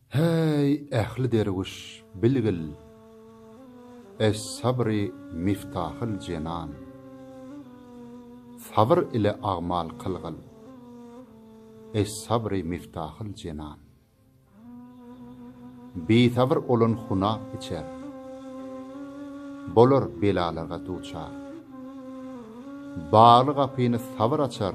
Häý, ähli derwüş, bilgil! Es-sabry miftahyl jenan! Sabyr ile agmal kylgyl! Es-sabry miftahyl jenan! Bisabyr olan hunap içer. Bolar belalarga duçar. Bagly gapyny sabyr açar.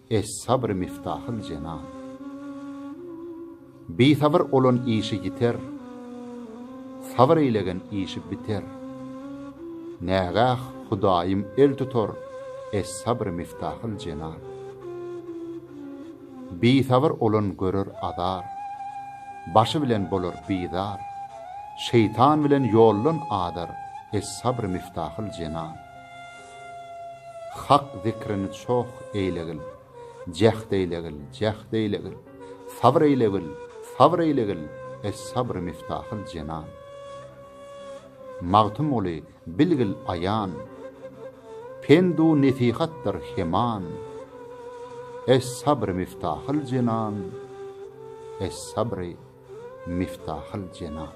Es-sabr miftahul jenan. Bisabyr olan işi ýiter, Sabyr eýlegen işi biter. Nägäh Hudaýym el tutar, Es-sabr miftahul jenan. Bisabyr olan görer azar, Başy bilen bolar bizar, Şeýtan bilen ýoldan azar, Es-sabr miftahul jenan. Hak zikrini çoh eýlegil, jäht eýlegil, jäht eýlegil, Sabyr eýlegil, sabyr eýlegil, Es-sabr miftahul jenan. Magtymguly bilgil aýan, Pendu nesihatdyr heman, Es-sabr miftahul jenan, Es-sabr miftahul jenan.